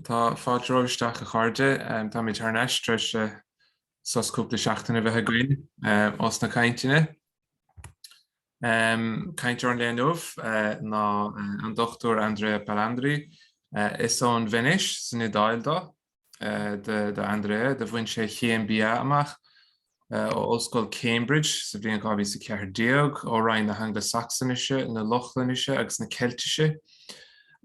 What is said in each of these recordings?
Tá fáilte romhaibh isteach a chairde. Táimid thar n-ais tar eis sos cúpla seachtain a bheith againn ós na cainteanna. Cainteoir an lae inniu ná an Dr. Andrea Palandri. Is ón Veinéis san Iodáil dó. D'Andrea, do bhain sé a chéim BA amach ó Ollscoil Cambridge sa bhliain 2014 ó Roinn na hAngla-Sacsanise, na Lochlainise agus na Ceiltise,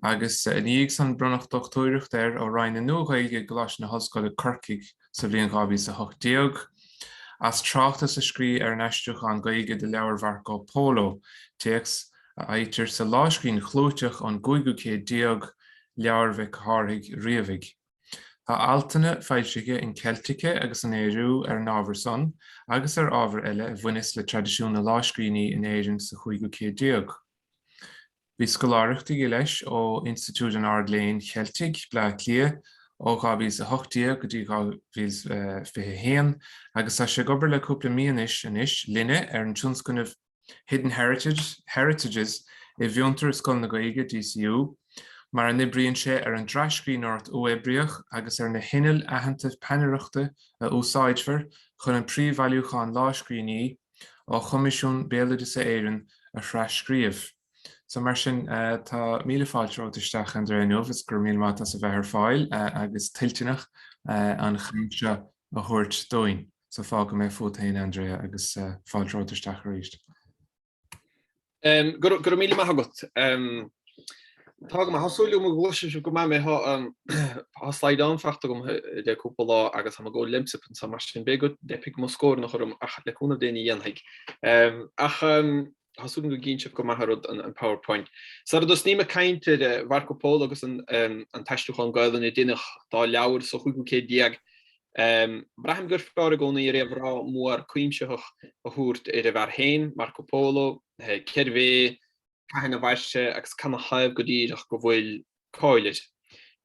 agus i ndiaidh san bronnadh dochtúireacht air ó Roinn na Nua-Ghaeilge i gColáiste na hOllscoile, Corcaigh sa bhliain 2018. As tráchtas a scríobh ar an aistriúchán Gaeilge de leabhar Mharco Polo, téacs a fhaightear sa lámhscríbhinn chlúiteach ón gcúigiú céad déag, Leabhar Mhic Chárthaigh Riabhaigh. Tá altanna foilsithe in Celtica agus in Ériu ar an ábhar san agus ar ábhar eile a bhaineas le traidisiún na lámhscríbhinní in Éirinn sa chúigiú céad déag. Bhí scoláireacht aige, leis, ó Institiúid an Ard-Léinn Cheiltigh, Bleá Cliath, ó 2018 go dtí 2021, agus tá sé ag obair le cúpla mí anois, anois, linne, ar an tionscnamh, Hidden Heritages i bhFiontar is Scoil na Gaeilge, DCU, mar a n-oibríonn sé ar an dtras-scríbhneoireacht uathoibríoch agus ar na hinnill aitheanta peannaireachta a úsáidfear chun an príomhbhailiúchán lámhscríbhinní ó Choimisiún Béaloideasa Éireann a thras-scríobh. So mar sin, tá míle fáilte romhat isteach, Andrea, inniu, is go raibh míle maith agat as a bheith ar fáil agus toilteanach an chaint seo a thabhairt dúinn. so fágfaidh mé fút fhéin Andrea agus fáilte romhat isteach arís. Go raibh míle maith agat. Tá go maith. Tá súil agam go gcloisfidh sibh go maith mé. Tá slaghdán fachta agam le cúpla lá agus táim ag ól Lemsip anso mar sin b'fhéidir go dteipfidh mo scornach orm ach le cúnamh Dé ní dhéanfaidh. Ach Tá súil agam go gcíonn sibh go maith an rud, an PowerPoint. Sara dtosnaím ag caint ar Mharco Polo agus an t-aistriúchán Gaolainn a deineadh dá leabhar sa chúigiú céad déag, braithim gur fearr i gcónaí réamhrá mór cuimsitheach a thabhairt ar an bhfear féin, Marco Polo, cérbh é, cathain a mhair sé agus cad ina thaobh go díreach go bhfuil cáil air.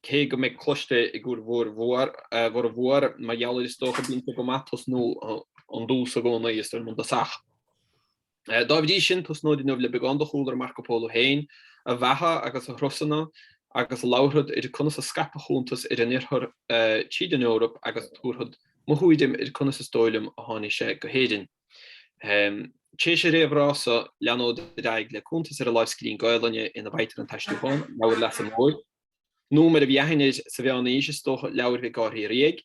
Cé go mbeidh cloiste ag bhur bhformhór, mar gheall air is dócha, bíonn sé go maith tosnú ón dtús i gcónaí, is dóigh liom, agus ach dá bhrí sin, tosnód inniu le beagán de chúlra Marco Polo féin, a bheatha agus a thurasanna, agus labharfad ar conas a scaip a chuntas ar an Oirthear tríd an Eoraip agus tabharfad mo thuairim ar conas is dóigh liom a tháinig sé go hÉirinn. Tar éis an réamhrá so leanód ar aghaidh le cuntas ar an lámhscríbhinn Gaolainne ina bhfaightear an t-aistriúchán, Leabhar Leasa Móir. Nó, mar a bhí aithne air sa mheánaois, is dócha, Leabhar Mhic Cárthaigh Riabhaigh.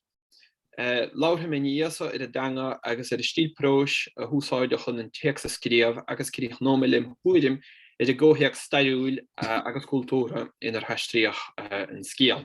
Labharfaidh mé ina dhiaidh so ar an dteanga agus ar an stíl próis a húsáideadh chun an téacs a scríobh agus críochnóidh mé lem thuairim ar an gcomhthéacs stairiúil agus cultúrtha inar haistríodh an scéal.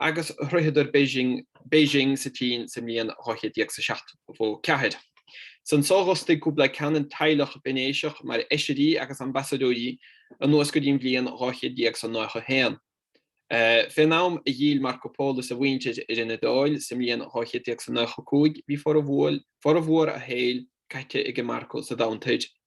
agus shroicheadar Beijing, Beijing sa tSín sa mbliain dhá chéad déag is a seachtó ceathair. Ansan so d'fhostaigh Kublai Khan an teaghlach Veinéiseach mar fheisirí agus ambasadóirí anuas go dtí an bhliain dhá chéad déag is a nócha haon. Fén am a d'fhill Marco Polo is a mhuintir ar an Iodáil sa mbliain dhá chéad déag is a nócha cúig bhí formhór a shaoil caite aige Marco sa Domhan Toir.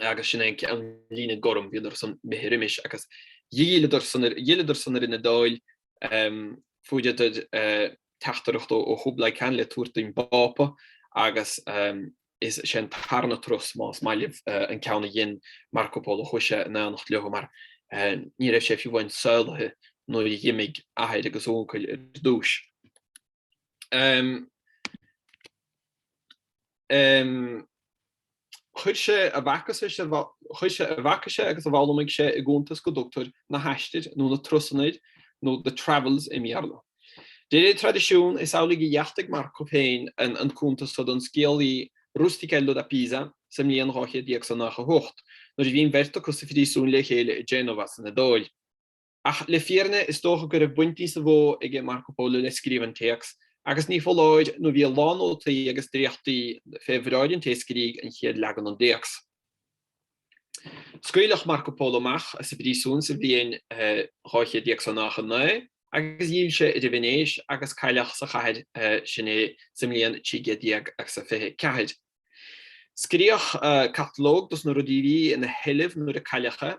agus sin é an líne gorm, bhíodar san imithe roimis agus d'fhilleadar san ar an Iodáil, fuaireadar teachtaireacht ó Chublai Khan le tabhairt don bPápa agus is é an tarna turas, más maith libh, an ceann a dhein Marco Polo chuaigh sé in aonacht leo mar ní raibh sé fiú amháin saolaithe nuair a d'imigh a athair agus a uncail ar dtús. Chuir sé a bhfaca sé agus a bhfoghlaimigh sé i gcuntas go dtugtar na haistir nó na turasanna air nó the travels i mBéarla. De réir traidisiún, is amhlaidh a dheachtaigh Marco féin an cuntas so don scéalaí Rustichello da Pisa sa mbliain 1298, nuair a bhí an bheirt acu sa phríosún le chéile i Genova san Iodáil. Ach le fírinne is dócha go raibh baint níosa mhó aige Marco Polo le scríobh an téacs, agus ní foláir nó bhí a lán nótaí agus dréachtaí fé bhráid an té a scrígh an chéad leagan den dtéacs. Scaoileadh Marco Polo amach as an bpríosún sa bhliain dhá chéad déag is a nócha naoi, agus d'fhill sé ar an Veinéis agus cailleadh sa chathair sin é sa mbliain trí gcéad déag agus a fiche ceathair. Scríodh catalóg dos na rudaí a bhí ina sheilbh nuair a cailleadh é.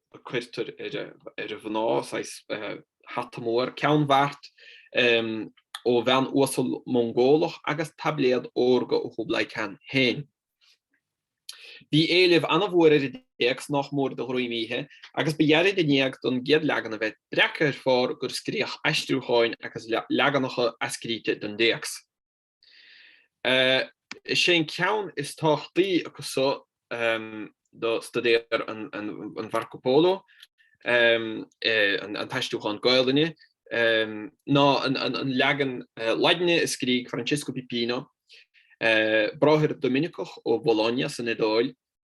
a cuirtear ar mhná, saghas hata mór, ceannbheart ó bhean uasal Mongólach agus taibléad órga ó Chublai Khan féin. Bhí éileamh an-mhór ar an dtéacs, nách mór de dhroim oíche, agus ba ghearr i ndiaidh don gcéad leagan a bheith breactha ar phár gur scríodh aistriúcháin agus leaganacha athscríte den dtéacs. Is é an ceann is tábhachtaí acu so do staidéar an Mharco Polo, an t-aistriúchán Gaelainne, ná an leagan Laidine a scrígh Francesco Pipino, bráthair Doiminiceach ó Bhologna san Iodáil,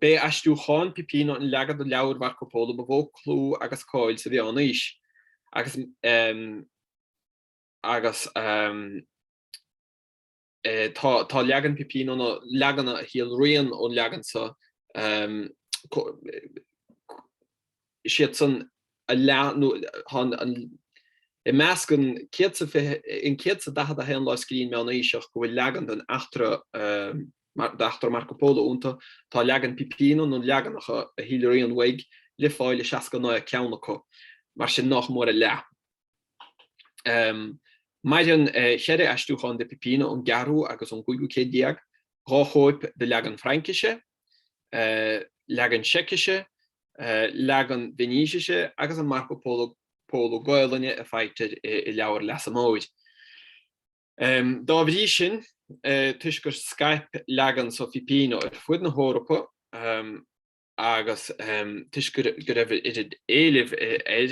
B'é aistriúchán Pipino an leagan de leabhar Mharco Polo ba mhó clú agus cáil sa Mheánaois, agus tá leagan Pipino nó leaganacha a shíolraíonn ón leagan so siadsan a leath, i measc an 141 lámhscríbhinn mheánaoiseach, go bhfuil leagan den eachtra d'eachtra Marco Polo iontu, tá leagan Pipino nó leaganacha a shíolraíonn uaidh le fáil i 69 ceann acu, mar sin nach mór a leath. Maireann cheithre aistriúchán de Pipino ón gceathrú agus ón gcúigiú céad déag, dhá chóip de leagan Fraincise, leagan Seicise, leagan Veinísise agus an Marco Polo Gaelainne a faightear i Leabhar Leasa Móir. Dá bhrí sin, toisc gur scaip leagan so Phipino ar fud na hEorpa agus toisc go raibh oiread éilimh air,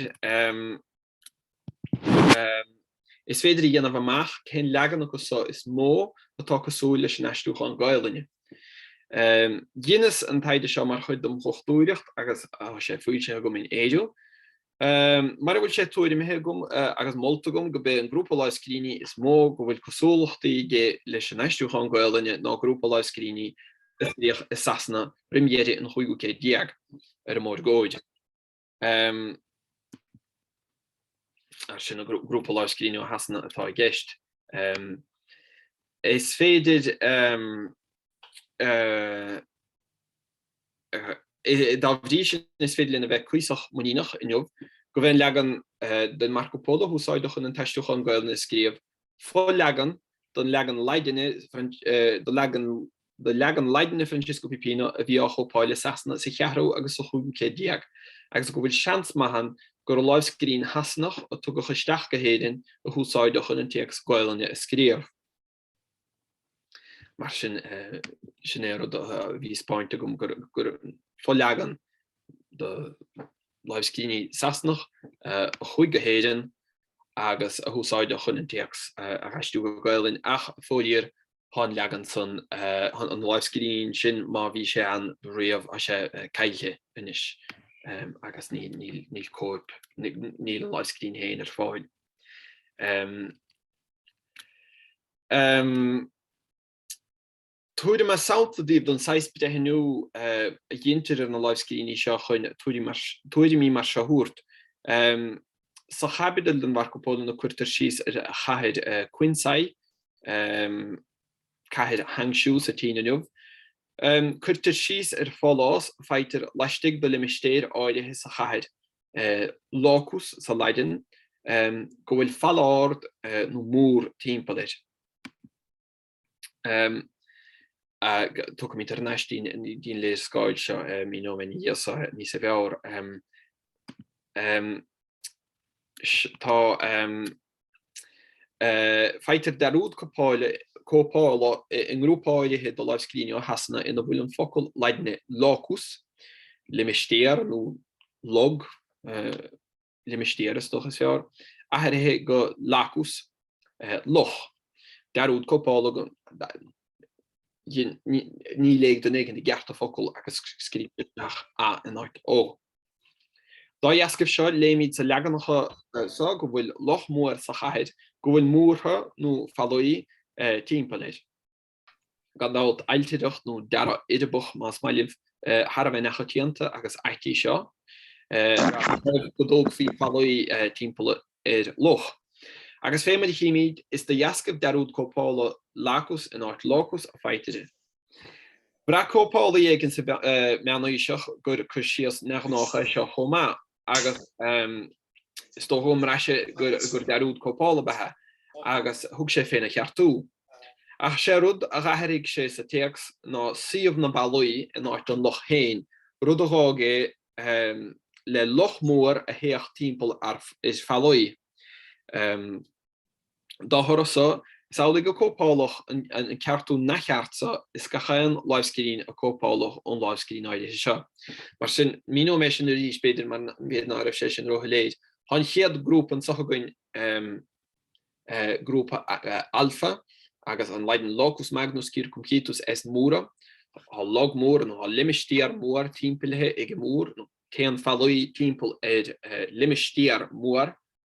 is féidir a dhéanamh amach cén leagan acu so is mó atá cosúil leis an aistriúchán Gaelainne. Dheineas an taighde seo mar chuid dem dhochtúireacht agus tá sé foilsithe agam in Ériu. Mar a bhfuil sé tuairimthe agam agus molta agam gurb é an grúpa lámhscríbhinní is mó go bhfuil cosúlachtaí aige leis an aistriúchán Gaelainne ná grúpa lámhscríbhinní a scríodh i Sasana roim dheireadh an chúigiú céad déag ar an mórgóid, mar sin, grúpa lámhscríbhinní ó Shasana atá i gceist. Is féidir. Dá bhrí sin is féidir linn a bheith cuíosach muiníneach inniu gurb é an leagan den Marco Polo a húsáideadh chun an t-aistriúchán Gaelainne a scríobh, fo-leagan den leagan Laidine de leagan Laidine Francesco Pipino a bhí á chóipeáil i Sasana sa cheathrú agus sa chúigiú céad déag, agus go bhfuil seans maith ann gur láimhscríbhinn Shasanach a tugadh isteach go hÉirinn a húsáideadh chun an téacs Gaelainne a scríobh. Mar sin, sin é rud a bhí á speáint agam gur fo-leagan de láimhscríbhinní Sasanach a chuaigh go hÉirinn agus a húsáideadh chun an téacs a dh'aistriú go Gaelainn, ach fóiríor, thá an leagan san, thá an láimhscríbhinn sin, má bhí sé ann riamh, thá sé caillte anois agus níl cóip, níl an láimhscríbhinn féin ar fáil. Tabharfaidh mé sampla daoibh den saghas breithniú a dhéantar ar na láimhscríbhinní seo chun tuairimí mar seo a thabhairt. Sa chaibidil den Marco Polo ina cuirtear síos ar chathair Quinsay, cathair Hangzhou sa tSín inniu, cuirtear síos ar pholás, faightear laistigh de limistéar áirithe sa chathair, locus sa Laidin, go bhfuil falla ard nó mór timpeall air. Tiocfaimid thar n-ais dtí an léarscáil seo, míneoidh mé níos, níos fearr. Tá Faightear dearúd cóipeála i ngrúpa áirithe de láimhscríbhinní ó Shasana ina bhfuil an focal Laidine locus, limistéar nó log, limistéar is dócha is fearr, athraithe go lacus, loch. Dearúd cóipeála go níor léigh duine éigin i gceart an focal agus scríobhtar isteach a in áit o. Dá dheascaibh seo, léimíd sa leaganacha so go bhfuil loch mór sa chathair, go bhfuil múrtha nó fallaí tímpeall air. Gan dabht, ailtireacht nó dearadh uirbeach, más maith libh, thar a bheith neamhchoitianta agus ait í seo, go dtógfaí fallaí tímpeall ar loch. Agus fé mar a chímíd, is de dheascaibh dearúd cóipeála Lacus in áit Locus a faightear é. Bhraith cóipeálaí éigin sa Mheánaoiseach gur cur síos neamhghnách é seo chomh maith, agus is dócha go mbraith sé gur dearúd cóipeála ba ea, agus thug sé féna cheartú. Ach sé rud a dh'athairigh sé sa téacs ná suíomh na ballaí in áit an loch féin, rud a dh'fhág é le loch mór a théadh timpeall ar fallaí. Dá thoradh seo, is amhlaidh gur cóipeáladh an ceartú neamhcheart seo is gach aon láimhscríbhinn a cóipeáladh ón láimhscríbhinn áirithe seo. Mar sin, míneoidh mé sin arís, b'fhéidir, mar b'fhéidir ná raibh sé sin róshoiléir. Tá an chéad grúpa anseo againn, grúpa alfa, agus an Laidin locus magnus circumcitus est mura. Tá log mór, nó tá limistéar mór, timpeallaithe ag an múr, nó téann fallaí timpeall ar limistéar mór.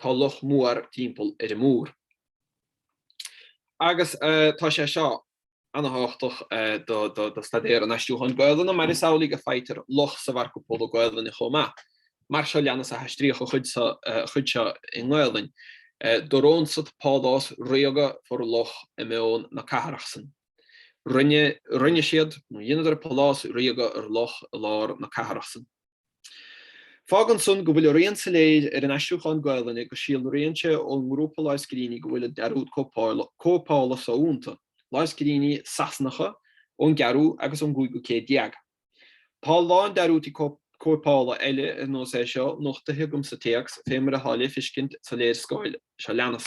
tá loch mór timpeall ar an múr. Agus tá sé seo ana-thábhachtach do staidéar an aistriúcháin Gaelainne mar is amhlaidh go faightear loch sa Mharco Polo Gaelainne chomh maith. Mar seo leanas a haistríodh an chuid seo i nGaelainn, Dorónsat pálás ríoga for loch i meón na cathrach san. Rinne, rinne siad, nó dheineadar pálás ríoga ar loch i lár na cathrach san. Fágann san go bhfuil a rian soiléir ar an aistriúchán Gaelainne go síolraíonn sé ón ngrúpa lámhscríbhinní go bhfuil an dearúd cóipeála so iontu, lámhscríbhinní Sasanacha ón gceathrú agus ón gcúigiú céad déag. Tá a lán dearúdtaí cóipeála eile ar nós é seo nochtaithe agam sa téacs, fé mar atá le feiscint sa léarscáil seo leanas.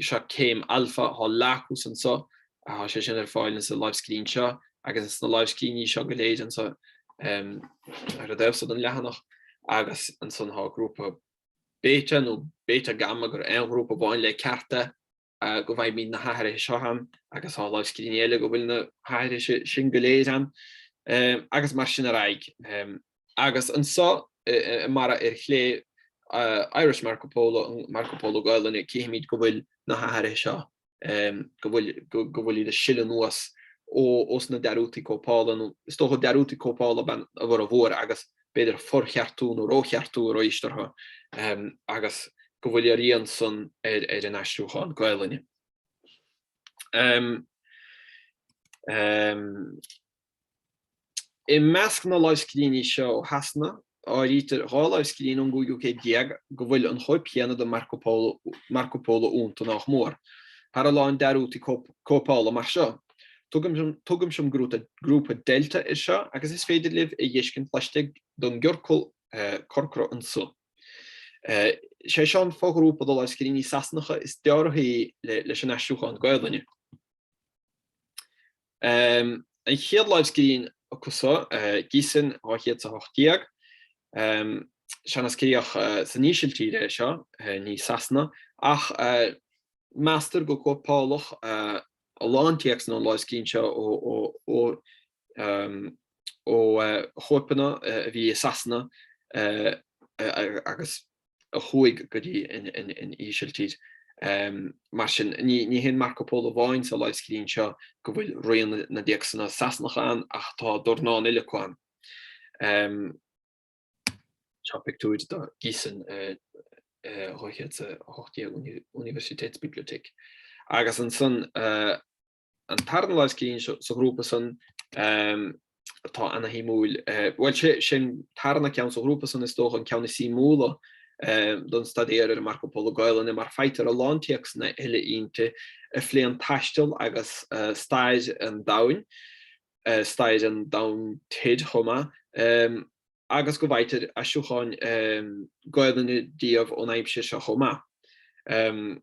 Seo céim alfa, atá lastuas anso, tá sé sin ar fáil insa láimhscríbhinn seo, agus insna láimhscríbhinní seo go léir anso ar an dtaobh so den leathanach, agus ansan tá grúpa Beta, nó Beta Gamma, gur aon ghrúpa amháin le ceart é, go bhfaighimid na hathruithe seo ann, agus tá láimhscríbhinní eile go bhfuil na hathruithe sin go léir ann, agus mar sin ar aghaidh. Agus anso i mbarra ar chlé, Irish Marco Polo, an Marco Polo Gaelainne, cífimid go bhfuil na hathruithe seo, go bhfuil iad ag sileadh anuas ós na dearúdtaí cóipeála, nó is dócha dearúdtaí cóipeála ab ea a bhformhór agus b'fhéidir forcheartú nó rócheartú arís orthu, agus go bhfuil a rian san ar an aistriúchán Gaelainne. I measc na lámhscríbhinní seo ó Shasana, áirítear dhá lámhscríbhinn ón gcúigiú céad déag go bhfuil an chóip chéanna de Marco Polo iontu nach mór. Tá a lán dearúdtaí cóipeála mar seo, tugaimse an grúpa Delta air seo, agus is féidir libh é a dh'fheiscint laistigh den gciorcal corcra anso. Is é seo an fo-ghrúpa de lámhscríbhinní Sasanacha is dealraithí leis an aistriúchán Gaelainne. An chéad lámhscríbhinn acu so, Giessen 218, sea, scríobhadh san Ísiltír é seo, ní i Sasana, ach meastar gur cóipeáladh a lán téacsanna ón lámhscríbhinn seo ó chóipeanna a bhí i Sasana agus. a chuaigh go dtí an Ísiltír. Mar sin, ní hé an Marco Polo amháin sa láimhscríbhinn seo go bhfuil rian na dtéacsanna Sasanacha ann ach tá dornán eile acu ann. Seo pictiúir de Giessen 218 Universitätsbibliothek. Agus ansan, an tarna lámhscríbhinn sa ghrúpa san atá ana-shuimiúil, bhuel, sé an tarna ceann sa ghrúpa san, is dócha, an ceann is suimiúla don staidéar ar an Marco Polo Gaelainne, mar faightear a lán téacsanna eile inti a phléann taisteal agus stair an domhain, stair an domhain toir chomh maith, agus go bhfaightear aistriúcháin Gaelainne díobh ón aimsir seo chomh maith.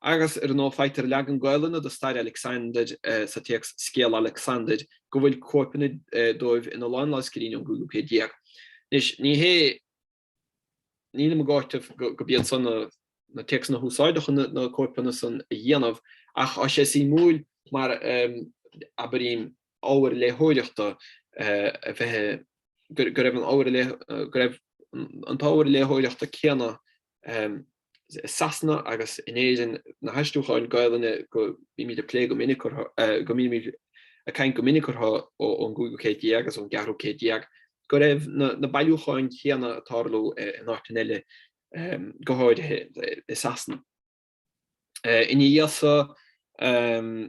Agus, ar ndóigh, faightear leagan Gaelainne de stair Alexander sa téacs Scéal Alexander, go bhfuil cóipeanna dóibh in a lán lámhscríbhinní ón gcúigiú céad déag. Anois, ní hé, nílim ag áiteamh gurb iad san na téacsanna a húsáideadh chun na cóipeanna san a dhéanamh, ach tá sé suimiúil mar abraím ábhar léitheoireachta a bheith, go raibh an t-ábhar léitheoireachta céanna i Sasana agus in Éirinn, na haistriúcháin Gaelainne go mbímid ag plé go minic, go mbímid ag caint go minic orthu ón gcúigiú céad déag agus ón gceathrú céad déag, go raibh na bailiúcháin chéanna ag tarlú in áiteanna eile, go háirithe i Sasana. Ina dhiaidh san,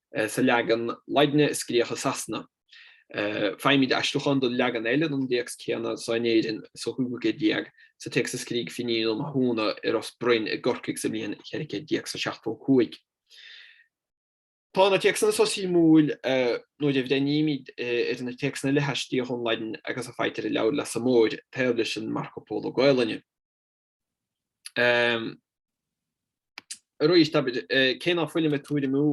sa leagan Laidine a scríodh i Sasana. Faighimid aistriúchán de leagan eile den téacs céanna so in Éirinn sa chúigiú céad déag, sa téacs a scrígh Finín Ó Mathúna i Ros Broin i gCorcaigh sa mbliain 1475. Tá na téacsanna so suimiúil, nuair a bhreithnímid ar na téacsanna eile a haistríodh ón Laidin agus a faightear i Leabhar Leasa Móir, taobh leis an Marco Polo Gaolainne. Arís, cé nach bhfuilim ag tuairimiú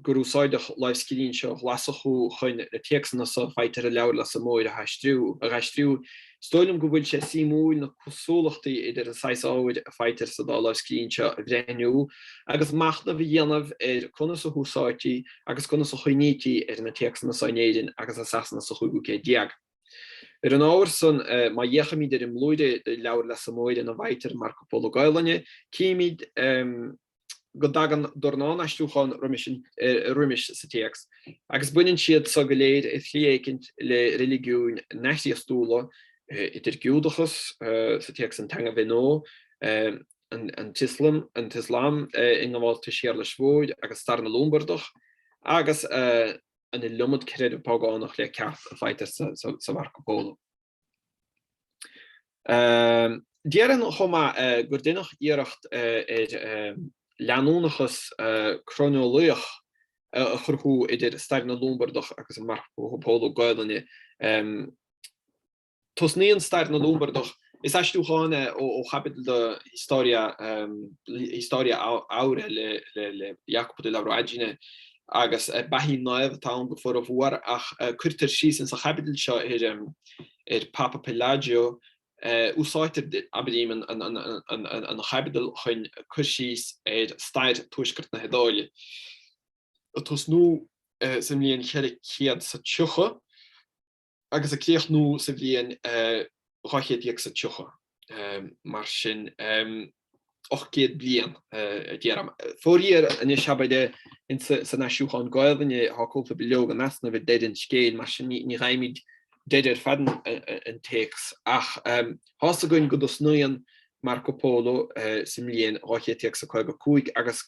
gur úsáideadh lámhscríbhinn seo Ghlaschú chun na téacsanna so a faightear i Leabhar Leasa Móir a aistriú, is dóigh liom go bhfuil sé suimiúil na cosúlachtaí idir an saghas ábhair a faightear sa dá lámhscríbhinn seo a bhreithniú agus machnamh a dhéanamh ar conas a húsáidtí agus conas a chuimhnítí ar na téacsanna so in Éirinn agus i Sasana sa chúigiú céad déag. Ar an ábhar san, má fhéachaimid ar an mblúire de Leabhar Leasa Móir ina bhfaightear Marco Polo Gaolainne, címid go dtagann dornán aistriúchán roimis sa téacs, agus baineann siad so go léir, i slí éicint, le reiligiúin neamh-Chríostúla, idir Giúdachas, sa téacs An Teanga Bhithnua, an tIoslam, an tIoslam i ngabháltais Shéarlais Mhóir, agus stair na Lombardach, agus. an iliomad creideamh págánach le ceart a faightear sa Marco Polo. Déarfainn chomh maith gur deineadh iarracht ar leanúnachas croineolaíoch a chruthú idir stair na Lombardach agus an Marco Polo Gaelainne, Tosnaíonn stair na Lombardach, is aistriúchán é ó chaibidil de Historia Historia Aurea le Jacopo della Voragine, agus beathaí naomh atá ann go formhór, ach cuirtear síos ins an chaibidil seo ar Pápa Pelagio. Úsáidtear abraím an chaibidil chun cur síos ar stair Tuaisceart na hIodáile, ag tosnú sa mbliain 430, agus a críochnú sa bhliain dhá chéad déag is tríocha, mar sin, ocht gcéad bliain, a deirim. Fóiríor anois, abair, san aistriúchán Gaelainne tá cúpla bileog in easnamh ag deireadh an scéil, mar sin ní dh'fhaighimid deireadh ar fad an téacs, ach tá's againn go dtosnaíonn Marco Polo sa mbliain dhá chéad déag is caoga cúig agus,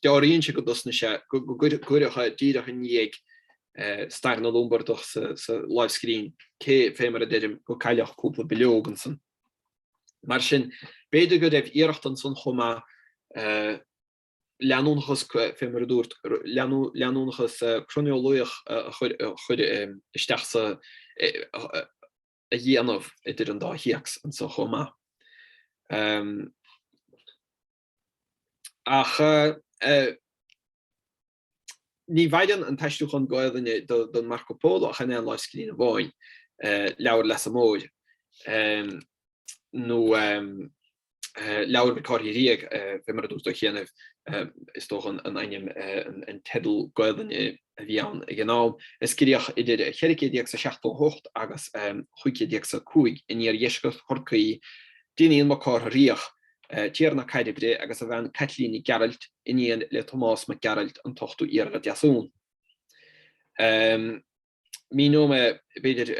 Dealraíonn sé go dtosnaigh sé, go gcuireadh é, díreach i ndiaidh stair na Lombardach sa láimhscríbhinn cé, fé mar a deirim, go cailleadh cúpla bileog ansan. Mar sin, b'fhéidir go raibh iarracht ansan chomh maith leanúnachas, fé mar a dúrt, leanúnachas croineolaíoch a chur isteach sa, a dhéanamh idir an dá théacs anso chomh maith. Ach ní mhaireann an t-aistriúchán Gaolainne don Marco Polo ach in aon lámhscríbhinn amháin, Leabhar Leasa Móir, nó Leabhar Mhic Cárthaigh Riabhaigh, fé mar a dúrt ó chianaibh, is dócha an ainm, an teideal Gaolainne a bhí ann ag an am, a scríodh idir 1478 agus 1505 in iardheisceart Chorcaí, d'Fhinín Mac Cárthaigh Riabhach, Tiarna Cairbre agus a bhean Caitlín Nic Gearailt, iníon le Tomás Mac Gearailt, an t-ochtú Iarla Deasmhumhan. Míneoidh mé, b'fhéidir,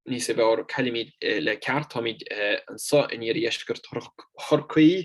níos fearr cá bhfuilimid le ceart, táimid anseo in iardheisceart Chorcaí.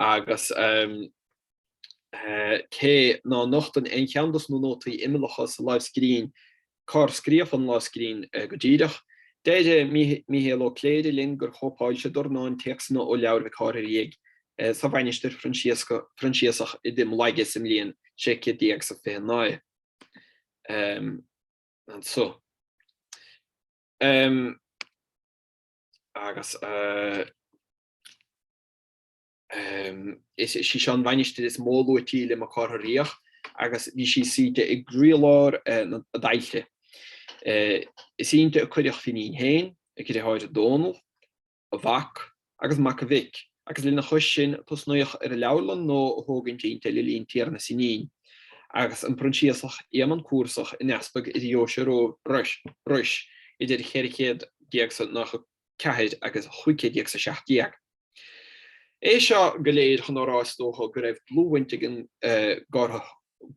agus cé ná nochtann aon cheann dos na nótaí imeallacha sa lámhscríbhinn cár scríodh an lámhscríbhinn go díreach, deir Mícheál Ó Cléirigh linn gur chóipeáil sé dornán téacsanna ó Leabhar Mhic Cárthaigh Riabhaigh sa mhainistir Phroinsiasach i dTigh Molaige sa mbliain 1600 is a 29 anso. Agus. Is í seo an mhainistir is mó luaití le Mac Cárthaigh Riabhach agus bhí sí suite i gcroílár a dtailte. Is inti a cuireadh Finín féin, a dhriotháir Dónall, a mhac, agus mac a mhic, agus lena chois sin tosnaíodh ar an leabharlann nua a thógaint inti le linn tiarnas Fhinín, agus an Proinsiasach Éamonn Cúrsach ina easpag i ndeoise Rois, idir 1400 is a 94 agus 1500 is a 17. É seo go léir chun á rá, is dócha, go raibh dlúthbhaint ag an,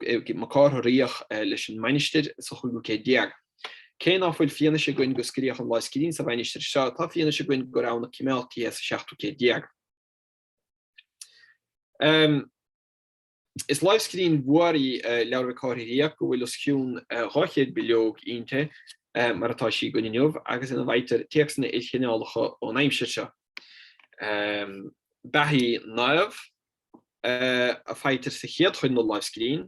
ag Mac Cárthaigh Riabhach leis an mainistir sa chúigiú céad déag. Cé ná fuil fianaise againn go scríodh an lámhscríbhinn sa mhainistir seo, tá fianaise againn gur ann a coimeádtaí í sa seachtú céad déag. Is láimhscríbhinn mhór í Leabhar Mhic Cárthaigh Riabhaigh go bhfuil os cionn 200 bileog inti mar atá sí againn inniu agus ina bhfaightear téacsanna ilchineálacha ón aimsir seo. Beathaí naomh a fhaightear sa chéad chuid den láimhscríbhinn,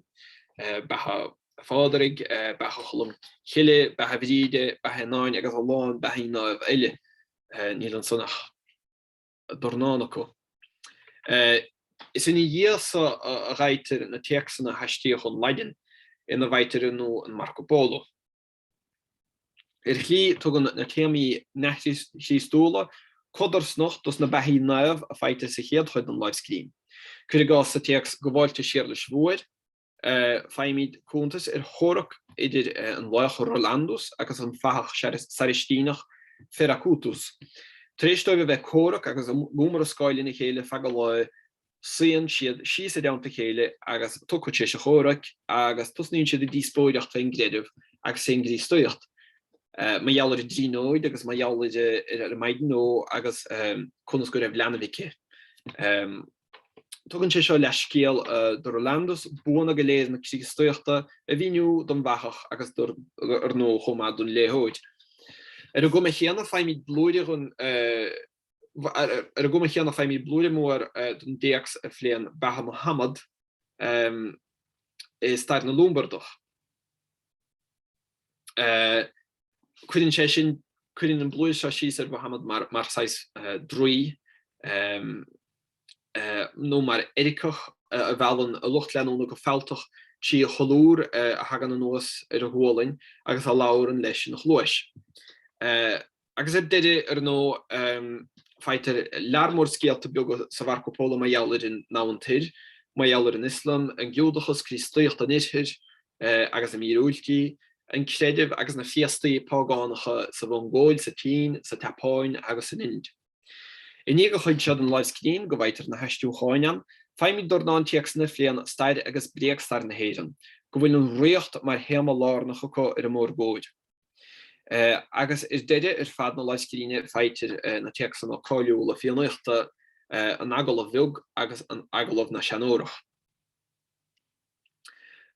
Beatha Phádraig, Beatha Cholm Cille, Beatha Bhríde, Beatha Sheanáin agus a lán beathaí naomh eile. Níl ansan ach dornán acu. Is ina dhiaidh so a fhaightear na téacsanna a haistríodh ón Laidin, ina bhfaightear ar ndóigh an Marco Polo. Ar shlí, tugann na téamaí neamhchríostúla codarsnacht dos na beathaí naomh a fhaightear sa chéad chuid den láimhscríbhinn, cuir i gcás sa téacs Gabháltas Shéarlais Mhóir, Faighimid cuntas ar chomhrac idir an laoch Rolandus agus an fathach Sairistíneach Feracutus. Tar éis dóibh a bheith ag comhrac agus ag iomrascáil lena chéile feadh an lae, suíonn siad síos i dteannta a chéile agus iad tugtha tar éis an chomhraic agus tosnaíonn siad ag díospóireacht fén gcreideamh agus fén gCríostaíocht, mar gheall ar an dTríonóid agus mar gheall ar an Maighdean Ógh agus conas go raibh leanbh aici. Tugann sé seo leathscéal do Rolandus, buanna go léir na Críostaíochta a mhíniú don bhfathach agus dar ndóigh chomh maith don léitheoir. Ar an gcuma chéanna faighimid blúire den, ar an gcuma chéanna faighimid blúire mór den dtéacs a phléann beatha Mohammad i stair na Lombardach. Cuireann sé sin, cuireann an blúire seo síos ar Mhuhamad mar, mar saghas uh, druí um, uh, nó mar eiriceach uh, a mheallann a lucht leanúna go fealltach trí a cholúr uh, a thagann anuas ar a ghualainn agus a labhrann leis ina chluais. Uh, Agus ar deireadh, ar ndóigh, faightear lear mór scéalta beaga sa Mharco Polo mar gheall ar an Domhan Toir, mar gheall ar an Ioslam, an Giúdachas, Críostaíocht an Oirthir agus a míorúiltí, an creideamh agus na féastaí págánacha sa Mhongóil, sa tSín, sa tSeapáin agus san Ind. I ndiaidh an chuid seo den láimhscríbhinn go bhfaightear na haistriúcháin ann, faighimid dornán téacsanna a phléann stair agus bréagstair na hÉireann, go bhfuil an ríocht mar théama lárnach acu ar an mórgóir. Agus ar deireadh, ar fad na láimhscríbhinne, faightear na téacsanna cáiliúla Fiannaíochta, an Agallamh Bheag agus an Agallamh na Seanórach.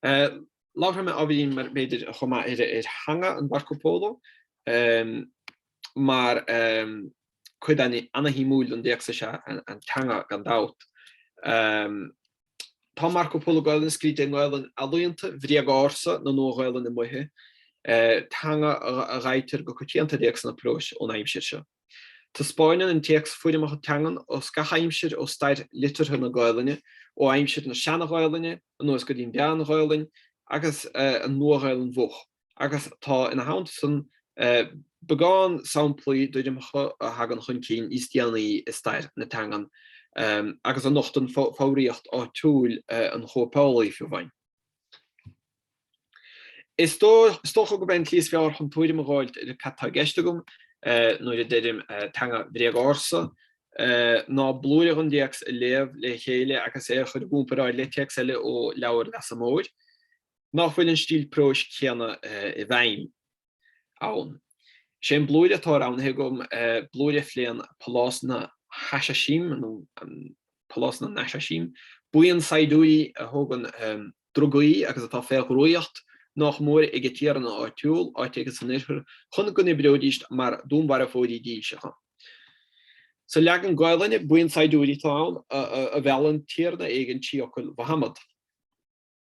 Labharfaidh mé ábhairín, mar, b'fhéidir, chomh maith ar theanga an Mharco Polo, mar cuid ana-shuimiúil den dtéacs is ea an teanga, gan dabht. Tá Marco Polo Gaelainn scríte i nGaelainn ealaíonta, bhréag-ársa na Nua-Ghaelainne Moiche, teanga a dh'fhaightear go coitianta i dtéacsanna próis ón aimsir seo. Taispeáineann an téacs foirmeacha teangan as gach aimsir ó stair liteartha na Gaelainne, ó aimsir na Seana-Ghaelainne anuas go dtí an Mheán-Ghaelainn agus an Nua-Ghaelainn Mhoch. agus tá, ina theannta san, beagán samplaí d'fhoirmeacha a thagann chun cinn níos déanaí i stair na teangan agus a nochtann foghraíocht áitiúil an chóipeálaí fiú amháin. Is dócha gurb é an tslí is fearr chun tuairim a dh'fháilt ar cad tá i gceist agam nuair a deirim teanga bhréag-ársa ná blúire dhon dtéacs a léamh le chéile agus é a chur i gcúmparáid le téacs eile ó leabhar Leasa Móir, nach bhfuil an stíl próis céanna i bhfeidhm ann. Is é an blúire atá roghnaithe agam, blúire a phléann Pálás na Hasaisím, Pálás na nAsaisím, buíon saighdiúirí a thógann drugaí agus atá fé dhraíocht nách mór ag a dtiarna áitiúil, áit éigin san Oirthear, chun go n-oibreoidíst mar dúnmharfóirí dílseacha. Sa leagan Gaelainne, buíon saighdiúirí atá ann, a mheallann tiarna éigin trí fhocail Mhahamad.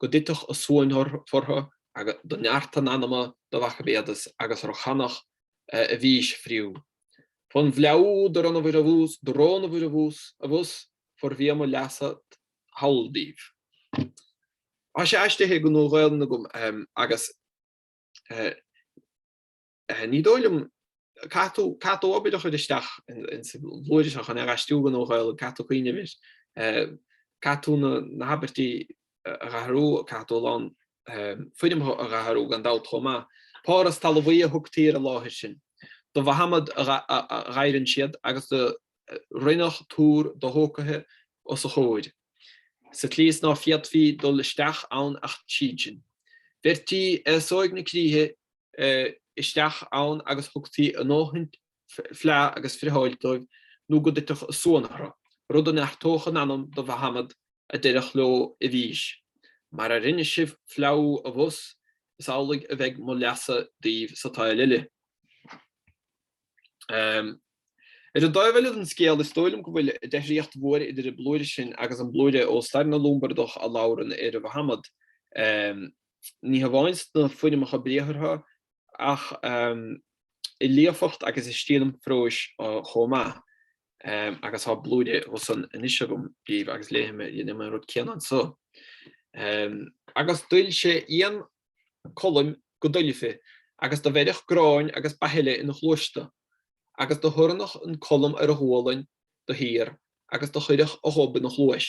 go dtitfeadh a suan fortha, agus do neart a n-anama do Mhacametus agus ro chanadh a bhfís friú. Fon bhfleadhú do rónabhair abhus, do rónabhair abhus, abhus, for bhia mo leasa thall daoibh. Thá sé aistrithe go Nua-Ghaelainn agam agus. Ní dóigh liom. Caithfidh tú, caithfidh tú obair a chur isteach insa bhlúire seo chun é a dh'aistriú go Nua-Ghaelainn, caithfidh tú cuimhneamh air, caithfidh tú na habairtí a dh'athrú, caithfidh tú a lán foirmeacha a dh'athrú, gan dabht chomh maith. Párthas talmhaí a thugtaí ar an láthair sin do Mhahamad a dh'adhrann siad agus do rinneadh túr dothógtha os a chomhair sa tslí is ná féadfaí dul isteach ann ach tríd sin. Bheirtí aos óg na críche isteach ann agus thugtaí a ndóthain fleá agus friotháil dóibh nó go dtitfeadh a suan orthu, rud a neartódh a n-anam do Mhahamad a déarfadh leo i bhfís, 'Mar a rinne sibh fleá abhus, is amhlaidh a bheidh mo leasa daoibh sa tsaol eile. Ar an dtaobh eile den scéal, is dóigh liom go bhfuil deifríocht mhór idir an blúire sin agus an blúire ó stair na Lombardach a labhrann ar Mhahamad, ní hamháin sna foirmeacha briathartha ach i líofacht agus i stíl an phróis chomh maith, agus tá blúire as san anois agam daoibh agus léifidh mé déanfam an rud céanna anso. Agus d'oil sé éan colaim go doilfe agus do bheireadh gráin agus beatha eile ina chluais dó, agus do thoirneadh an colm ar a ghualainn do shíor agus do chuireadh a ghob ina chluais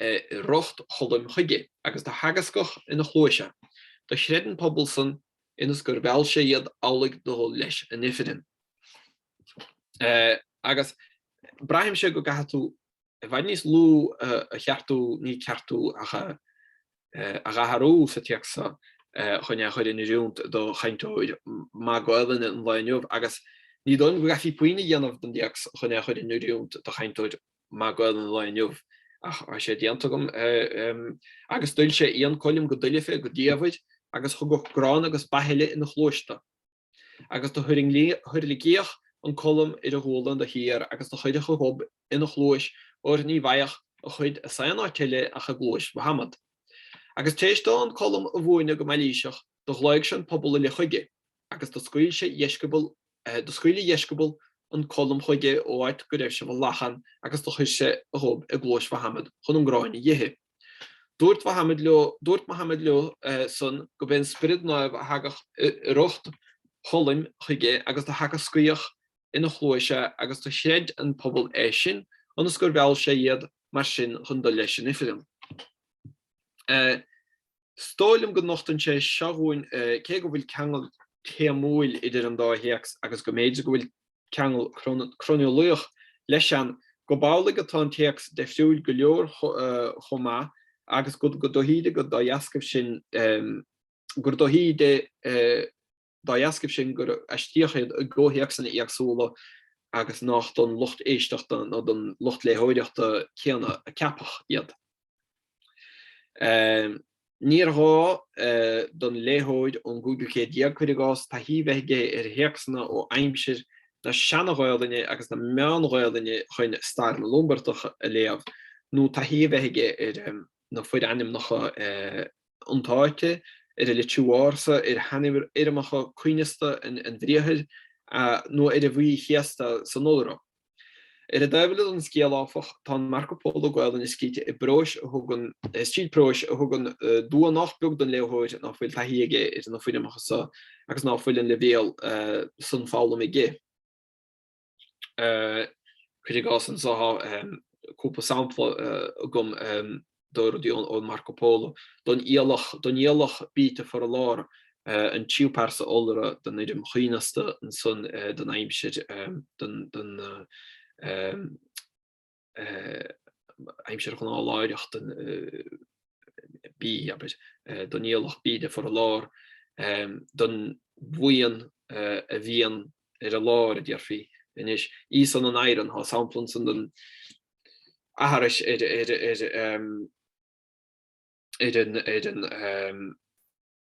i riocht Choluim chuige, agus do theagascadh ina chluais é, do chreid an pobal san, ionas gur mheall sé iad amhlaidh do dhul leis in ifreann. Agus braithimse go gcaithfidh tú i bhfad níos lú a cheartú, ní ceartú ach a dh'athrú, sa téacs so chun é a chur in oiriúnt do chainteoir maith Gaelainne an lae inniu, agus ní dóigh liom go gcaithfí puinn a dhéanamh den dtéacs chun é a chur in oiriúnt do chainteoir maith Gaelainne an lae inniu. Ach tá sé déanta agam. Agus d'oil sé éan coilm go doilfe, go diamhair, agus thugadh grán agus beatha eile ina chluais dó. Agus do thuirlingíodh an colm ar a ghualainn do shíor agus do chuireadh a ghob ina chluais óir ní bhfaigheadh a chuid as aon áit eile ach i gcluais Mhahamad. Agus tar éis dó an colm a mhúineadh go mailíseach, Do ghlaoidh sé an pobal uile chuige, agus do scaoil sé dheisceabail, do scaoil a dheisceabail an colm chuige ó áit go raibh sé i bhfolachán agus do chuir sé a ghob i gcluais Mhahamad chun an gráin a dh'ithe. Duairt Mahamad leo, duairt Mahamad leo san go b'é an spiorad naomh a thagadh i riocht cholm chuige agus do theagascaíodh ina chluais é agus do chreid an pobal é sin ionas gur mheall sé iad mar sin chun dul leis in ifreann. Is dóigh liom go nochtann sé seo dhúinn cé go bhfuil ceangal téamúil idir an dá théacs agus go mb'fhéidir go bhfuil ceangal croineolaíoch leis ann, gurb amhlaidh atá an téacs deifriúil go leor chomh maith agus gur dóichíde gur dá dheascaibh sin gur dóichíde, dá dheascaibh sin, gur aistríodh iad i gcomhthéacsanna éagsúla agus nach don lucht éisteachta nó don lucht léitheoireachta céanna a ceapadh iad. Níor ghá don léitheoir ón gcúigiú céad déag, cuir i gcás, taithí bheith aige ar théacsanna ó aimsir na seana-Ghaelainne agus na meán-Ghaelainne chun stair na Lombardach a léamh, nó taithí a bheith aige ar na forainmneacha, iontáite, ar a litriú ársa, ar shainfhoirmeacha coibhneasta an bhriathair, nó ar an bhfaí chéasta san iolra. Ar an dtaobh eile den scéal, áfach, tá an Marco Polo Gaelainne scríte i bpróis a thugann, stíl próis a thugann dua nach beag don léitheoir nach bhfuil taithí aige ar na foirmeacha seo agus ná fuil an leibhéal san foghlama aige. cuir i gcás anso tá cúpla sampla agam do rudaí ón Marco Polo, don fhiallach bíte for a lár, an tríú pearsa iolra den fhoirm choibhneasta ansan don aimsir, don aimsir ghnáthláithreach den bí, abair, don fhiallach bíde for a lár, don bhuíon a bhíonn ar a lár, a déarfaí anois. Í san an Iron, tá sampla ansan den aithris ar an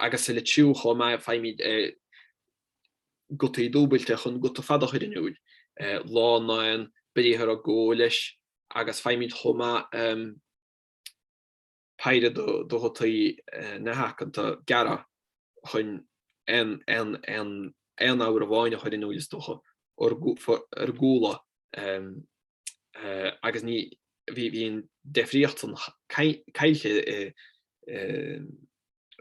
agus sa litriú chomh maith, faighimid gutaí dúbailte chun guta fada a chur in iúl, lá naon briathar a gabhadh leis, agus faighimid chomh maith péire de ghutaí neamhaiceanta gearra chun aon fhoghar amháin a chur in iúl, is dócha, ar gcúla. agus ní, bhí an deifríocht san caillte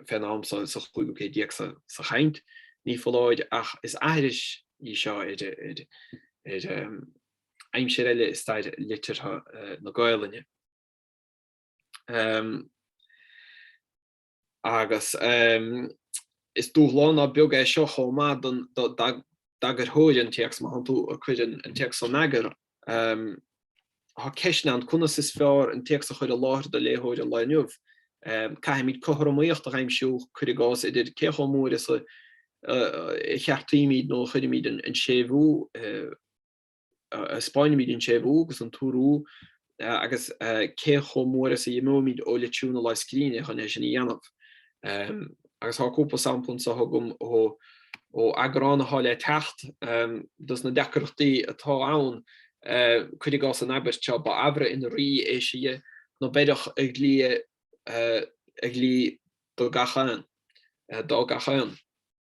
fén am sa chúigiú céad déag sa chaint ní foláir ach is aithris í seo ar aimsir eile i stair liteartha na Gaolainne. Agus is dúshlán ná beag é seo chomh maith don, d'eagarthóir an téacs, má thánn tú ag cur an téacs in eagar. Tá ceisteanna ann, conas is fearr an téacs a chur i láthair do léitheoir an lae inniu? Caithfimid cothromaíocht a aimsiú, cuir i gcás, idir cé chomh mór is a cheartaímid nó a chuirimid an séimhiú i. Spáinimid an séimhiú agus an t-urú agus cé chomh mór is a dh'imímid ó litriú na lámhscríne chun é sin a dhéanamh. Agus tá cúpla sampla anso agam ó eagrán atá le teacht. Dos na deacrachtaí atá ann, cuir i gcás an abairt seo, Ba amhra in rí éisidhe, no beireadh a dhlí a dhlí do gach aon.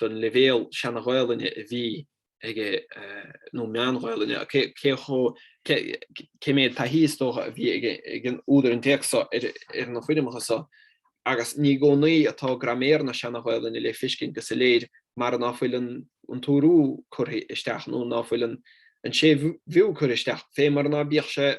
don leibhéal seana-Ghaelainne a bhí aige nó meán-Ghaelainne, cé mhéad taithí, is dócha, a bhí ag an údar an téacs so ar na foirmeacha so, agus ní i gcónaí atá graiméar na seana-Ghaelainne le fiscint go soiléir mar ná fuil an t-urú curtha isteach nó ná fuil an séimhiú curtha isteach, fé mar ná bíodh sé.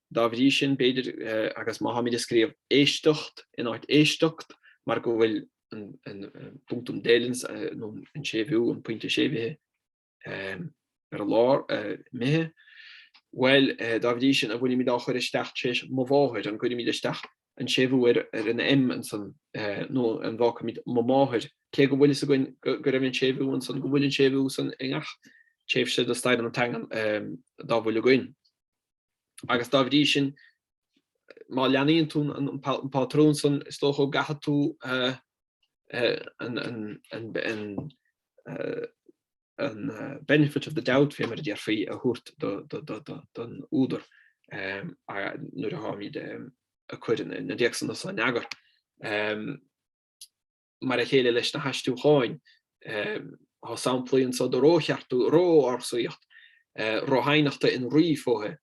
Dá bhrí sin, b'fhéidir, agus má táimid ag scríobh éisteacht in áit éisteact, mar go bhfuil an punctum delens, nó an séimhiú, an pointe séimhithe, ar lár, mithea, bhuel, dá bhrí sin, an bhfuilimid á chur isteach tar éis mo mháthair, an gcuirimid isteach an séimhiú ar an M ansan, nó an bhfágfaimid mo máthair, cé go bhfuil fhios againn go raibh an séimhiú ansan, go bhfuil an séimhiú san i ngach tréimhse de stair na teangan dá bhfuil againn. Agus dá bhrí sin, má leanaíonn tú an pátrún san, is dócha go gcaithfidh tú an benefit of the doubt, fé mar a déarfaí, a thabhairt don údar nuair a tháimid ag cur na dtéacsanna so in eagar. mar a chéile leis na haistriúcháin, tá samplaí anso de ró-cheartú, ró-ársaíocht, ro hadhnachta in Rí fóithe,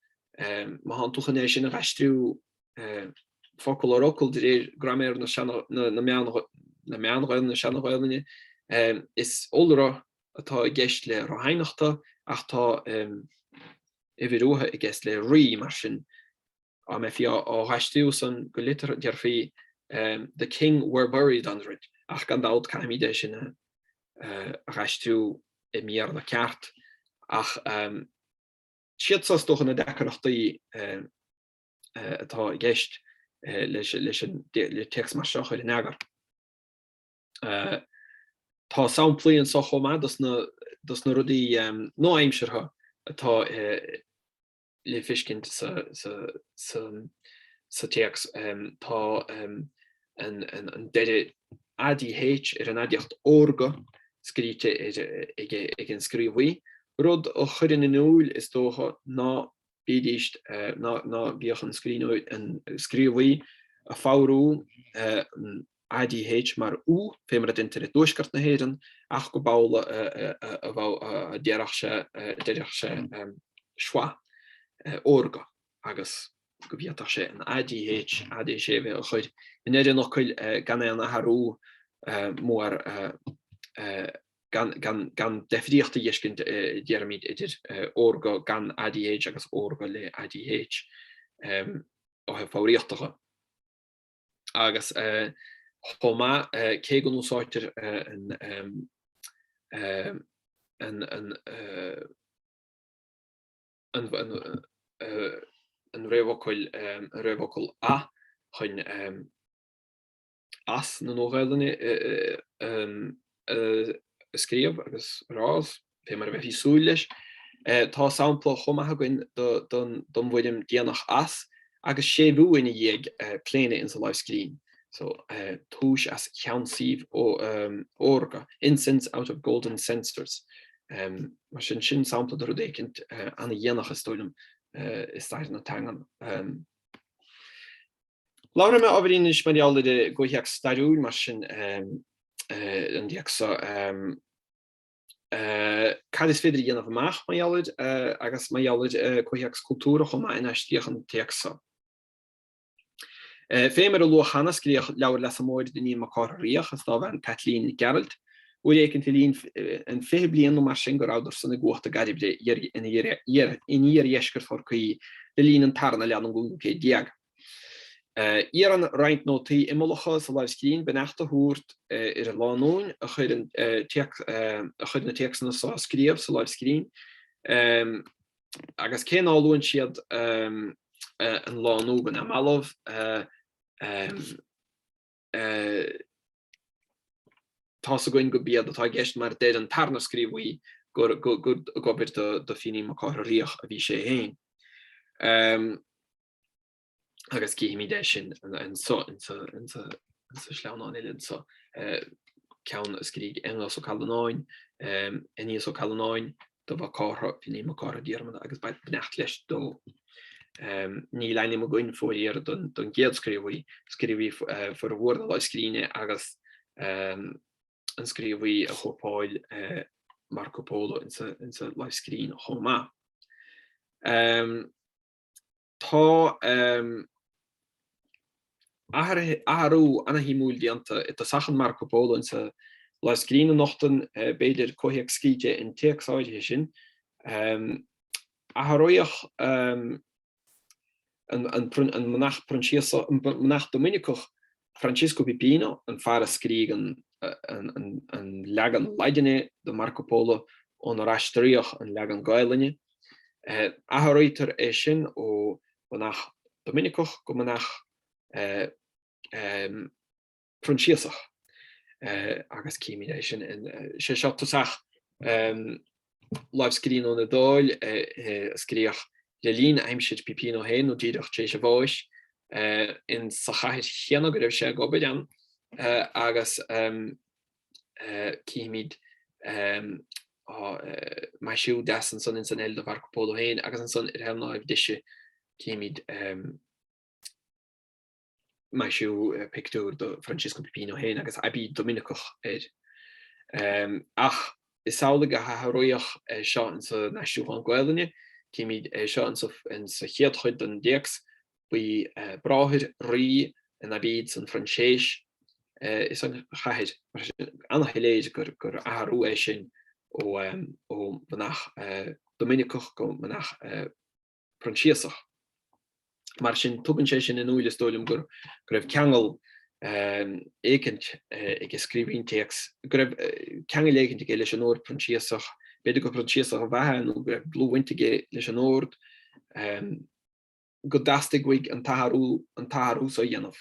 má thánn tú chun é sin a dh'aistriú focal ar fhocal de réir graiméir na Meán-Ghaelainne, na Seana-Ghaelainne. Is iolra atá i gceist le ro hadhnachta ach tá uimhir uatha i gceist le Rí, mar sin. Dá mbeifí á dh'aistriú san go litir déarfaí The King were buried under it, ach gan dabht caithfimid é sin a dh'aistriú i mBéarla ceart. Ach siad so is dócha na deacrachtaí atá i gceist leis le téacs mar seo a chur in eagar. Tá samplaí anso chomh maith dos na rudaí nua-aimseartha atá le feiscint sa téacs. Tá an deireadh ADH ar an aidiacht órga scríte ag an scríobhaí, rud a chuireann in iúil, is dócha, ná bídís, ná bíodh an scríobhaí ag foghrú ADH mar ú, fé mar a deintear i dtuaisceart na hÉireann, ach go b'amhlaidh a bheadh, déarfadh sé, deirfeadh sé schwa, órga, agus go bhféadfadh sé an ADH, AD séimhithe, a chur i ndeireadh an fhocail gan aon athrú muar gan, gan deifríocht a dh'fheiscint, déarfaimid, idir órga gan ADH agus órga le ADH, ó thaobh foghraíochta dhe. Agus chomh maith, cé go n-úsáidtear an réamhfhocal a chun as na Nua-Ghaelainne a scríobh agus a rá, Fé mar a bheifeá ag súil leis, tá sampla chomh maith againn don bhfoirm déanach 'as', agus séimhiú ina dhiaidh, claonadh ins an láimhscríbhinn so, túis as cheannsaíbh órga, incense out of golden censers. Mar sin, sin sampla de rud éicint ana-dhéanach, is dóigh liom, i stair na teangan. Labhróidh mé, ábhairín, anois mar gheall ar an gcomhthéacs stairiúil, mar sin, an téacs so. Cad is féidir a dhéanamh amach mar gheall air agus mar gheall ar comhthéacs cultúrach chomh maith inar aistríodh an téacs so? Fé mar a luadh cheana, scríodh Leabhar Leasa Móir d'Fhínín Mac Cárthaigh Riach is dá bhean Caitlín Nic Gearailt, uair éicint le linn an fiche bliain nó mar sin go rabhadar-san i gcumhacht i gCairbre in iardheisceart Chorcaí le linn an tarna leath den gcúigiú céad déag. Iarrann roinnt nótaí imeallacha sa láimhscríbhinn beannacht a thabhairt ar an lánúin a chuir na téacsanna so á scríobh sa láimhscríbhinn, agus cé ná luann siad an lánúin go neamhbhalbh, tá's againn gurb iad atá i gceist, mar deir an tarna scríobhaí gur ag obair do Fínín Mac Cárthaigh Riach a bhí sé féin. agus cífimid é sin anso sa sleamhnán eile anso. Ceann a scrígh Aonghus Ó Callanáin, Aeneas Ó Callanáin, do Mhac Cártha, Fínín Mac Cártha Diarmada, agus beidh beannacht leis dó. Níl ainm againn fóiríor don gcéad scríobhaí, scríobhaí formhór na lámhscríbhinne agus an scríobhaí a chóipeáil Marco Polo insa lámhscríbhinn chomh maith. Tá athrú ana-shuimiúil déanta i dtosach an Marco Polo insa lámhscríbhinn a nochtann, b'fhéidir, comhthéacs scríte an téacs áirithe sin. Athraíodh an manach Proinsiasach, manach Doiminiceach, Francesco Pipino, an fear a scrígh an leagan Laidine de Marco Polo ónar aistríodh an leagan Gaelainne. Athraítear é sin ó mhanach Doiminiceach go manach Proinsiasach, agus címid é sin. Is é seo tosach. lámhscríbhinn ón Iodáil a scríodh le linn aimsir Pipino féin nó díreach tar éis a bháis in sa chathair chéanna go raibh sé ag obair ann agus címid maisiú deas ansan ins an L do Mharco Polo féin agus ansan ar thaobh na láimhe deise címid Maisiú pictiúr do Francisco Pipino féin agus aibíd Doiminiceach air. Ach is amhlaidh a athraíodh é seo insa n-aistriúchán Gaolainne, címid é seo insa chéad chuid den téacs, baí bráthair rí in aibíd san Froinséis is an chathair. Ana-shoiléir gur athrú é sin ó mhanach Doiminiceach go manach Proinsiasach. Mar sin, tugann sé sin in úil, is dóigh liom, go raibh ceangal éicint ag scríobhaí an téacs, go raibh ceangal éicint aige leis an Ord Proinsiasach, b'fhéidir gur Proinsiasach ab ea é nó go raibh dlúthbhaint aige leis an Ord, go dteastaigh uaidh an t-athrú so a dhéanamh.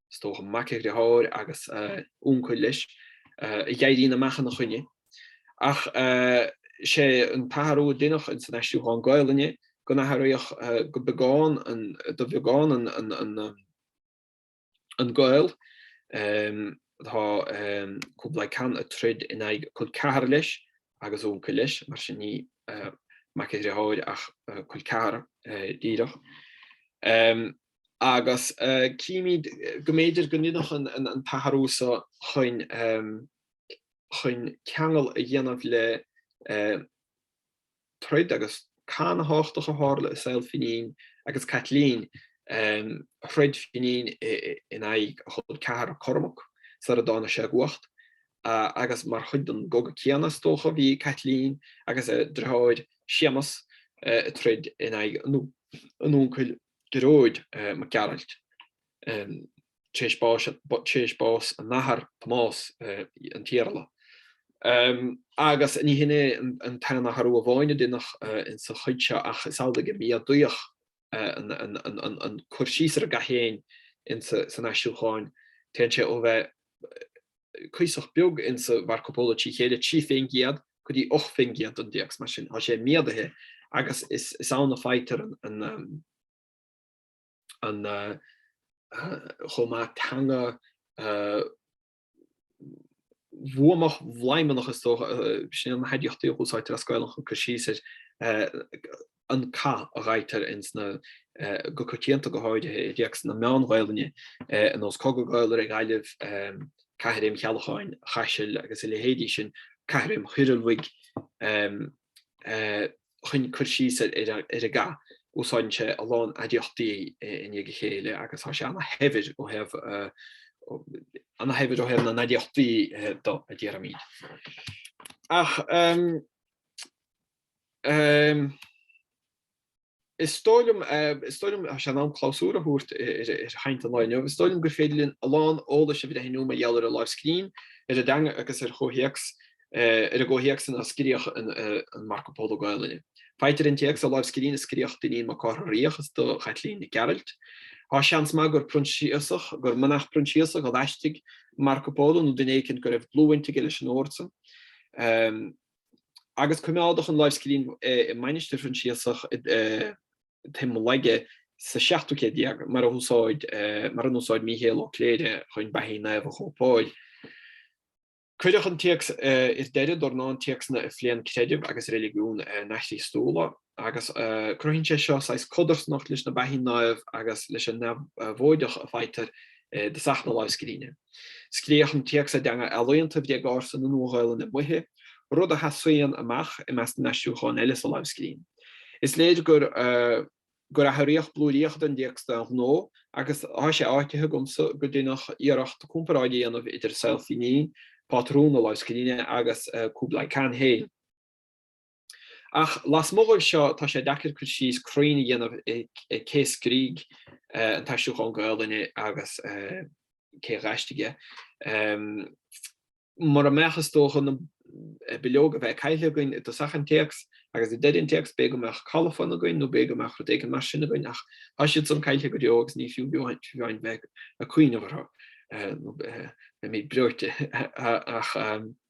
is dócha, mac a dhriotháir agus a úncail leis, a dh'éiríonn amach ina choinne. Ach sé an t-athrú a deineadh ins an aistriúchán Gaolainne go n-athraíodh go beagán, do bheagán an gaol atá Kublai Khan ag troid in aghaidh col ceathar leis agus úncail leis, mar sin ní mac a dhriotháir ach col ceathar díreach. agus címid go mb'fhéidir go ndeineadh an t-athrú so chun ceangal a dhéanamh le troid agus cath tábhachtach a tharla i saol Finín agus Caitlín, throid Finín in aghaidh a chol ceathar, Cormac, sar a dtáinig sé i gcumhacht, agus mar chuid den gcogadh céanna, is dócha, bhí Caitlín agus a driotháir Séamas ag troid in aghaidh a n-uncail, Gearóid Mac Gearailt, tar éis bás a n-athar, Tomás, an tIarla, agus ní hin é an t-aon athrú amháin a deineadh ins an chuid seo, ach is amhlaidh gur méadaíodh an cur síos ar an gcath féin san aistriúchán, téann sé ó bheith cuíosach beag ins an Mharco Polo trí chéile, trí faoin gcéad go dtí 8 faoin gcéad don dtéacs, mar sin tá sé méadaithe agus is ann a faightear an chomh maith teanga bhuamach bhladhmannach is dócha, sna haidiachtaí a úsáidtear as Gaelainn chun cur síos ar an cath a dh'fhaightear ins na, go coitianta, go háirithe i dtéacsanna Meán-Ghaelainne ar nós Cogadh Gael re Gallaibh, Caithréim Cheallacháin Chaisil agus a leithéidí sin, Caithréim Thoirdhealbhaigh, chun cur síos ar an gcath. Úsáideann sé a lán aidiachtaí i ndiaidh a chéile agus tá sé ana-shaibhir ó thaobh, ana-shaibhir ó thaobh na n-aidiachtaí de, a déarfaimid. Ach. Is dóigh liom, is dóigh liom, sé an am clabhsúr a thabhairt ar chaint an lae inniu, is dóigh liom gur féidir linn a lán eolais a bhreithniú mar gheall ar an láimhscríbhinn, ar an dteanga agus ar chomhthéacs, ar an gcomhthéacs ina scríodh an Marco Polo Gaelainne. Faightear an téacs sa láimhscríbhinn a scríodh d'Fhinín Mac Cárthaigh Riabhach is do Chaitlín Nic Gearailt. Tá seans maith gur Proinsiasach, gur manach Proinsiasach a d'aistrigh Marco Polo nó duine éicint go raibh dlúthbhaint aige leis an ord san. agus coimeádadh an láimhscríbhinn i mainistir Phroinsiasach i dTigh Molaige sa seachtú céad déag, mar ar úsáid Míchéal Ó Cléirigh chun beathaí naomh a chóipeáil. Cuireadh an téacs ar deireadh dornán téacsanna a phléann creideamh agus reiligiúin neamh-Chríostúla. agus cruthaíonn sé seo saghas codarsnacht leis na beathaí naomh agus leis an ndeabhóideacht a faightear i dtosach na láimhscríbhinne. Scríodh an téacs i dteanga ealaíonta bhréag-ársa na Nua-Ghaelainne Moiche, rud a sheasaíonn amach i measc na n-aistriúchán eile sa láimhscríbhinn. Is léir gur athraíodh blúiríocha den dtéacs d'aon ghnó, agus tá sé áitithe agamsa go deineadh iarracht comparáid a dhéanamh idir saol Fínín, pátrún na láimhscríbhinne, agus Kublai Khan féin. Ach lasmuigh dhóibh seo, tá sé deacair cur síos cruinn a dhéanamh ar cé a scrígh an t-aistriúchán Gaoluinne agus cé a dh'aistrigh é. Mura mbeadh, is dócha, na bileoga a bheith cailte againn i dtosach an téacs agus i deireadh an téacs, b'fhéidir go mbeadh colafon againn nó b'fhéidir go mbeadh rud éigin mar sin againn, ach tá siad san cailte go deo agus ní fiú amháin bheith ag cuimhneamh orthu, nó beimid breoite.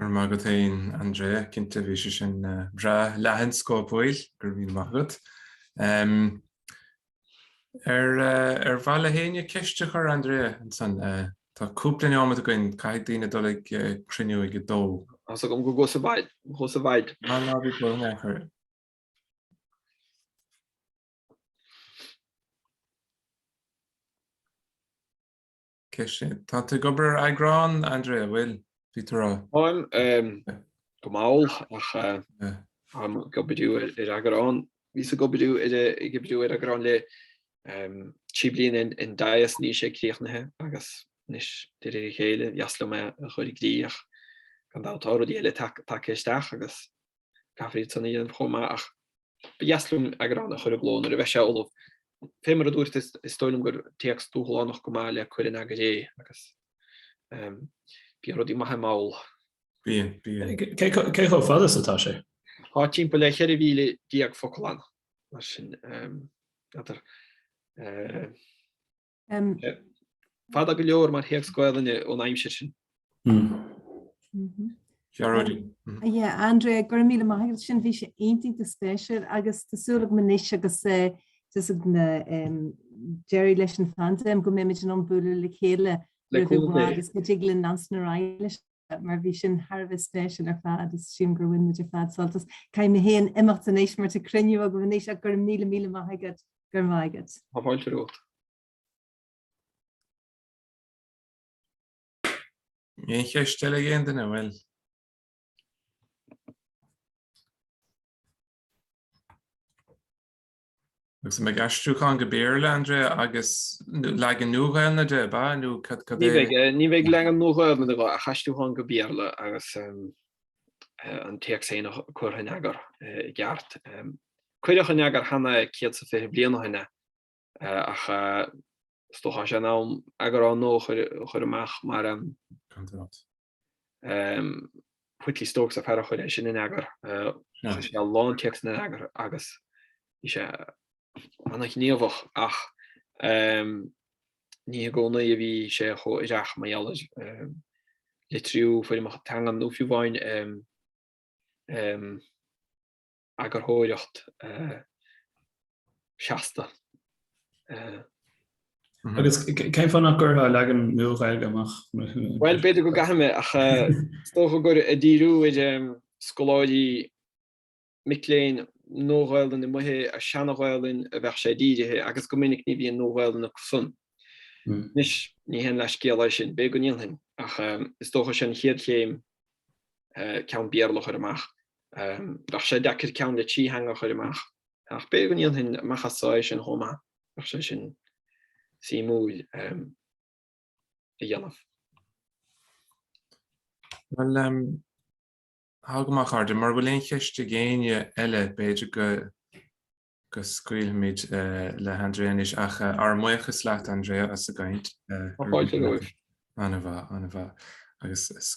Go raibh maith agat fhéin Andrea, cinnte bhí sé sin breá leathan scópúil, go raibh míle maith agat. Ar mhaith le héinne ceist a chur Andrea ansan? Tá cúpla neomat againn, caithfidh daoine dul ag cruinniú ag a dó. Tá's agam go gcos i bhfad, go gcos i bhfad. Ná ná bí buan ar chor. Tá tú ag obair ar eagrán, Andrea, a' bhfuil? Bhí tú rá. Táim, go mall, ach táim ag oibriú ar eagrán, bhíos ag oibriú ar, ag oibriú ar eagrán le trí bliana in Dias, níl sé críochnaithe agus anois, de réir a chéile, ba dheas liom é a chur i gcrích ach gan dabht tá rudaí eile tagtha isteach agus caithfear iad san a dhéanamh chomh maith ach ba dheas liom eagrán a chur i gcló nuair a bheidh sé ullamh. Fé mar a dúirt, is dóigh liom gur téacs dúshlánach go maith le cur in eagar é agus bíonn rudaí maithe mall. Bíonn, bíonn. Cé chomh fada is atá sé? Tá timpeall le 14,000 focal ann, mar sin, n'fheadar. Fada go leor mar théacs Gaelainne ón aimsir sin. Gearóidí. Yeah, Andrea, go raibh míle maith agat sin, bhí sé iontach de spéisiúil agus tá súil agam anois agus deireadh leis an phaindéim go mbeimid in ann bualadh le chéile roimh i bhfad agus go dtig linn leanstan ar aghaidh leis mar bhí sin thar bheith spéisiúil ar fad is sílim gur bhain muid ar fad sult as. Caithfidh mé féin imeacht anois mar tá cruinniú agam anois ach go raibh míle míle maith agat go raibh maith agat. Tá fáilte romhat. Aon cheist eile ag aon duine an bhfuil. Agus an mbeidh aistriúchán go Béarla, Andrea, agus leagan Nua-Ghaelainne de, ab ea, nó? Ní bheidh leagan Nua-Ghaelainne de, ach aistriúchán go Béarla agus an téacs féin curtha in eagar i gceart. Cuireadh in eagar cheana 120 bliain ó shin é, ach is dócha go bhfuil sé in am eagrán nua a chur amach mar. Candidát. Whitley Stokes an fear a chuir é sin in eagar. Chuir sé a lán téacsanna in eagar agus bhí sé an-ghníomhach ach ní i gcónaí a bhí sé chomh díreach mar gheall ar litriú foirmeacha teanga nó fiú amháin eagarthóireacht seasta. Agus cén fáth nach gcuirfeá leagan Nua-Ghaeilge amach? Bhuel, b'fhéidir go gcuirfidh mé, ach is dócha gur ag díriú ar scoláirí mic léinn Nua-Ghaelainn nó ar Sheana-Ghaelainn a bheadh sé dírithe, agus go minic ní bhíonn Nua-Ghaelainn acusan. Anois, ní haon leathscéal é sin, b'fhéidir go ndéanfainn, ach is dócha sin an chéad chéim ceann Béarla a chur amach, bheadh sé deacair ceann le trí theanga a chur amach, ach b'fhéidir go ndéanfainn amach anseo é sin chomh maith, bheadh sé sin suimiúil a dhéanamh. Bhuel, togha amach, Andrea, mura bhfuil aon cheist ag éinne eile, b'fhéidir go scaoilfimid le hAndrea anois, ach ár mbuíochas leat, Andrea, as an gcaint. Tá fáilte romhaibh. An-mhaith, an-mhaith.